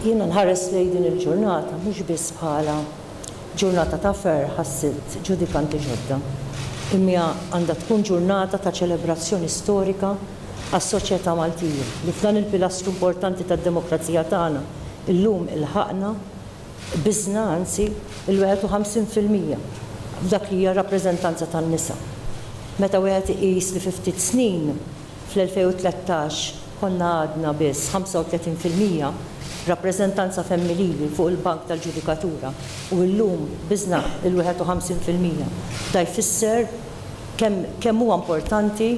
Jiena nħares lejn din il-ġurnata mhux biss bħala ġurnata ta' ferħ ħassilt ġudikanti ġodda. Imma għandha tkun ġurnata ta' ċelebrazzjoni storika għas-soċjetà Maltija li f'dan il-pilastru importanti tad-demokrazija tagħna llum ilħaqna Biżna, anzi, il-51 fil-mija f'dak li hija r-rappreżentanza tan-nisa. Meta wieħed iqis li fi ftit snin, fl-2013, konna għadna biss 35 fil-mija rappreżentanza femminili fuq il-bank tal-ġudikatura u illum, biżna, il-51 fil-mija, da jfisser kemm kemm huwa importanti,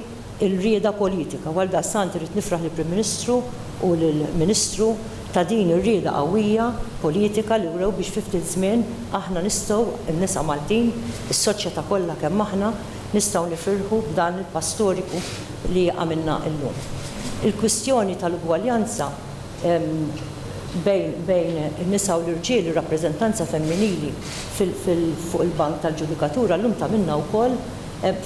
ir-rieda politika. U għaldaqstant irrid nifraħ lill-Prim Ministru u lill-Ministru ta' din ir-rieda qawwija politika li wrew biex fi ftit żmien aħna nistgħu, in-nisa Maltin, is-soċjetà kollha kemm aħna, nistgħu nifirħu b'dan il-pass storiku li għamilna illum. Il-kwistjoni tal-ugwaljanza bejn in-nisa u l-irġiel, ir-rappreżentanza femminili fuq il-bank tal-ġudikatura llum tagħmilna wkoll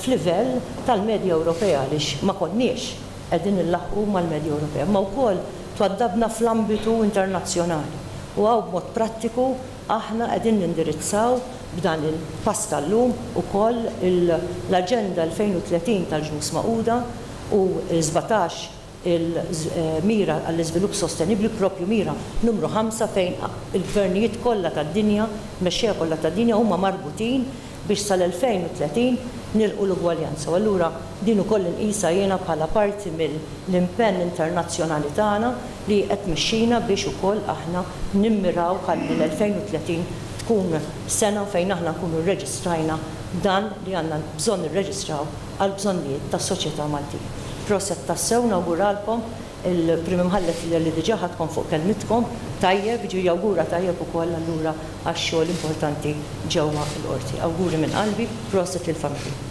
f'livell tal-medja Ewropea għaliex ma konniex qegħdin inlaħħqu mal-medja Ewropea, imma wkoll twaddabna fl-ambitu internazzjonali u hawn b'mod prattiku aħna qegħdin nindirizzaw b'dan il-pass tal-lum ukoll l-Aġenda 2030 tal-Ġnus Magħquda u l-sbatax il-mira għall-iżvilupp sostenibbli, proprju mira numru ħamsa fejn il-gvernijiet kollha tad-dinja, il-mexxejja kollha tad-dinja huma marbutin biex sal-2030 nilħqu l-ugwaljanza. U allura din ukoll inqisha jiena bħala parti mill-impenn internazzjonali tagħna li hi qed tmexxina biex ukoll aħna nimmiraw ħalli l-2030 tkun sena fejn aħna nkunu rreġistrajna dan li għandna bżonn nirreġistraw għall-bżonnijiet tas-soċjetà Maltin. Proset tassew nawguralkom il-Prim Imħallef li diġà ħadkom fuq kelmitkom tajjeb jiġifieri jawgura tajjeb ukoll allura għax-xogħol importanti ġewwa l-Qorti. Awguri minn qalbi, proset lill-familja.